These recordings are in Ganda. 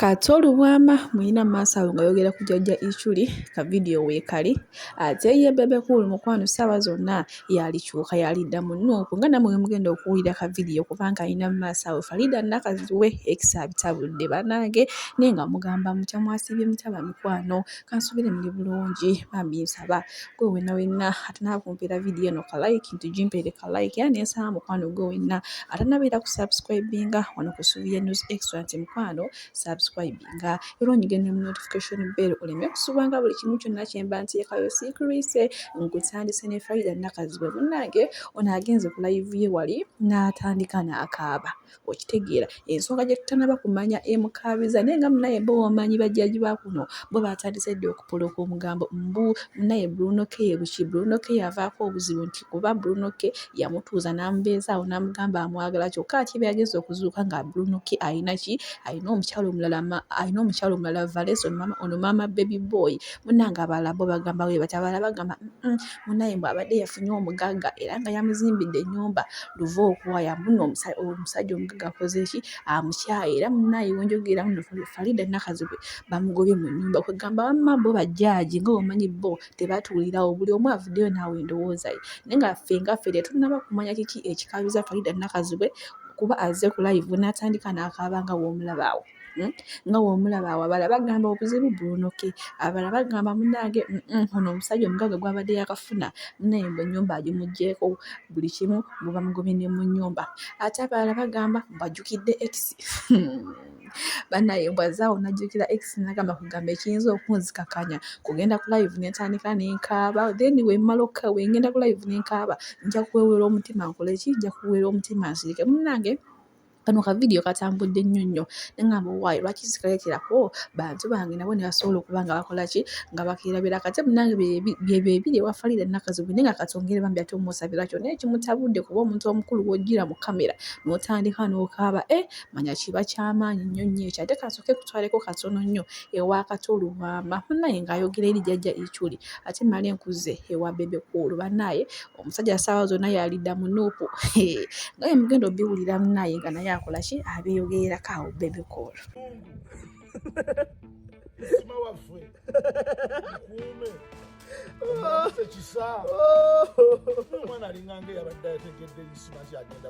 Kato Lubwama muyina maaso awo nga ayogera ku jjajja Ichuli ka vidiyo weekali ate ye Bebe Cool mukwano ssaawa zonna yaalikyuka yaalidda mu Nuupu nga nammwe bwe mugenda okuwulira ka vidiyo kubanga alina mu maaso awo Faridah Nakazzi we ekisa abitabudde bannange naye nga mugamba mutya mwasiibye mutya bamikwano. Kansubire muli bulungi bambi nsaba gwe wena wena atanaba kumpera video eno ka like ntujimpere ka like era nensaba mukwano gwe wena atanabeera ku subscribinga wano ku Subiya News Extra nti mukwano subscribinga era onyige ne notification bell oleme kusubanga buli kimu kyonna kyemba nteekayo sikrise nkutandise ne Faida Nakazibwe munnange ono agenze ku live ye wali n'atandika n'akaaba Okitegeera? Ensonga gye tutanaba kumanya emukaabiza naye nga munaye bo omanyi bajjaaji ba kuno bo baatandise dda okupolooka omugambo mbu munaye Bruno K ye buki? Bruno K yavaako obuzibu nti kuba Bruno K yamutuuza n'amubeezaawo n'amugamba amwagala kyokka ate byageze okuzuuka nga Bruno K alina ki? Alina omukyala omulala alina omukyala omulala Valesa ono maama Baby Boy munnange abalala bo bagamba bwe batyo abalala bagamba munaye mbu abadde yafunye omugagga era nga yamuzimbidde ennyumba luva okuwaya muno omusajja omugagga akozeeki amukyaye era munaye wenjogera muno Farida Nakazibwe bamugobye mu nnyumba kwegamba wamma bo bajjaaji nga omanyi bo tebatuulirawo buli omu avuddeyo naawe endowooza ye naye nga ffe nga ffe tetunnaba kumanya kiki ekikabiza Farida Nakazibwe kuba azze ku live n'atandika n'akaaba nga w'omulabaawo. Hmm? nga womulaba awabala bagamba obuzibu buunoke abala bagamba munange ono omusajja omugaga gwabadde yakafuna munaye mbu enyumba agimugyeko buli kimu bubamugobye ne mu nyumba ate abalala bagamba mbajukidde ex banaye mbwazaawo najukira ex nagamba kugamba ekiyinza okunzikakanya kugenda ku live nentandika nenkaaba then wemala wengenda ku live nenkaaba nja kuwewera omutima nkoleki nja kuwewera omutima nsirike munange Kano ka vidiyo katambudde nnyo nnyo ne ŋŋamba owaaye lwaki sikaleeterako bantu bange nabo ne basobola okuba nga bakola ki nga bakeerabira kate munange bye bebiri ewa faliida nakazubi naye nga katwongere bambi ate omusabira kyonna ekimutabudde kuba omuntu omukulu w'ojjira mu kamera n'otandika n'okaaba e eh, manya kiba kyamaanyi nnyo nnyo ekyo ate kasooke kutwaleko katono nnyo ewa kato oluwamba munaye ng'ayogera eri jajja ekyuli ate male nkuze ewa bebe kuulu banaye Omusajja ssaawa zonna y'alidda mu Nuupu. Hee, nga bwe mugenda obiwulira munaaye nga naye akola ki abeeyogererako awo bebe call. Isima waffe mukuume omukise kisa omwana alinganga eyabadde ategedde isima kyagenda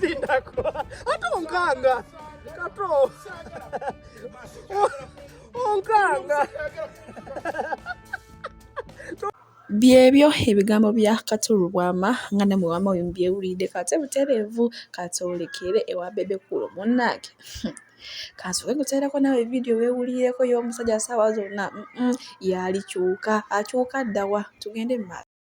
Sindako. Ate onkanga. Kato. Onkanga. byebyo ebigambo bya katulu bwama nga ne muwama oyo mbyewulidde kate butereevu katolekere ewa bebe kulo munnange kansoke kuteerako nawe vidiyo wewulireko y'omusajja saawa zonna yaali kyuka akyuka ddawa tugende mu maaso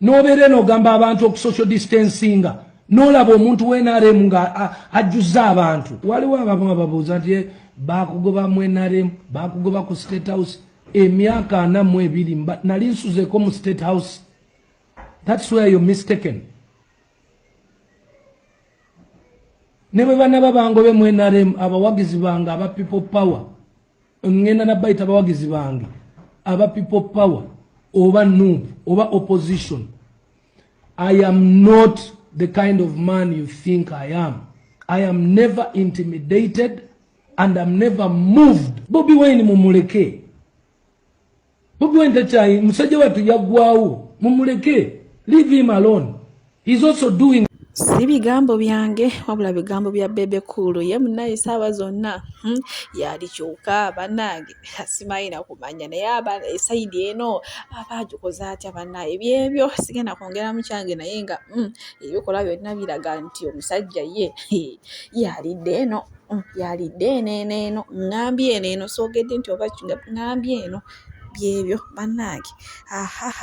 nobeera eno ogamba abantu okusocial distancinga nolaba omuntu wenrm nga ajjuza abantu waliwo abamu ababuuza nti eh, bakugoba mu nrm bakugoba ku state house emyaka ana mu ebiri nali nsuzeko mu state house thats where you mistaken ne bwe banaba bangobe mu nrm abawagizi bange aba people power ngenda nabayita abawagizi bange aba people power oba nup oba opposition i am not the kind of man you think i am i am never intimidated and am never moved bobi wine mumuleke Bobi Wine takyayi musajja wattu yaggwawo mumuleke leave him alone he's also doing si bigambo byange wabula bigambo bya bebe kuulu ye munaye saaba zonna hmm? yali kyuka banange simayina kumanya naye aba esaidi eno aba agikoze atya banaye byebyo sigenda kwongeramu kyange naye nga hmm, ebikola byonna biraga nti omusajja ye yalidde eno yalidde eno eno eno ŋŋambye eno eno soogedde nti oba ngambye eno byebyo bannange ahaha